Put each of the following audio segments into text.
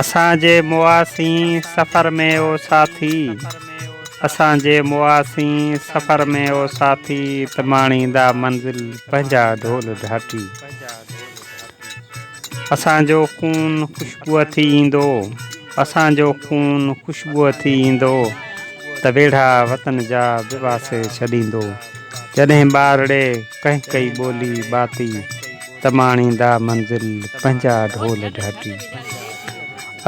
اسان جي مواسين سفر ۾ او ساٿي، اسان جي مواسين سفر ۾ او ساٿي، ته ماڻيندا منزل پنهنجا ڍول ڍاٽي. اسان جو خون خوشبوء ٿي ايندو، اسان جو خون خوشبوء ٿي ايندو، ته ويڙها وطن جا به واسي ڇڏيندو. جڏهن ٻارڙي! ڪنهن ڪئي ٻولي ٻاتي تماڻيندا منزل پنهنجا ڍول ڍاٽي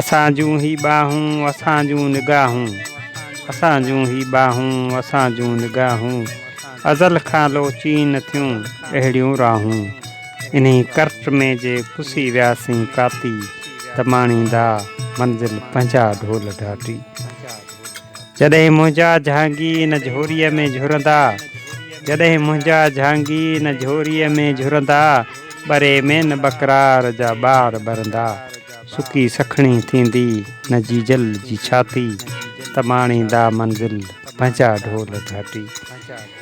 اسان جون هي ٻانهون اسان جون نگاهون اسان جون هي ٻانهون اسان جون نگاهون ازل کان لوچين ٿيون اهڙيون راهون انهي ڪرٽ ۾ جي پسي وياسين ڪاتي تماڻيندا منزل پنهنجا ڍول ڍاٽي. جڏهن منهنجا جهانگي ان جهوريء ۾ جهرندا، جڏهن منهنجا جهانگي ان جهوريء ۾ جهرندا، ٻري ۾ نه ٻڪرار جا ٻار ٻرندا، سڪي سکڻي ٿيندي نه جيجل جي ڇاتي، ته ماڻيندا منزل پنهنجا ڍول گهاٽي.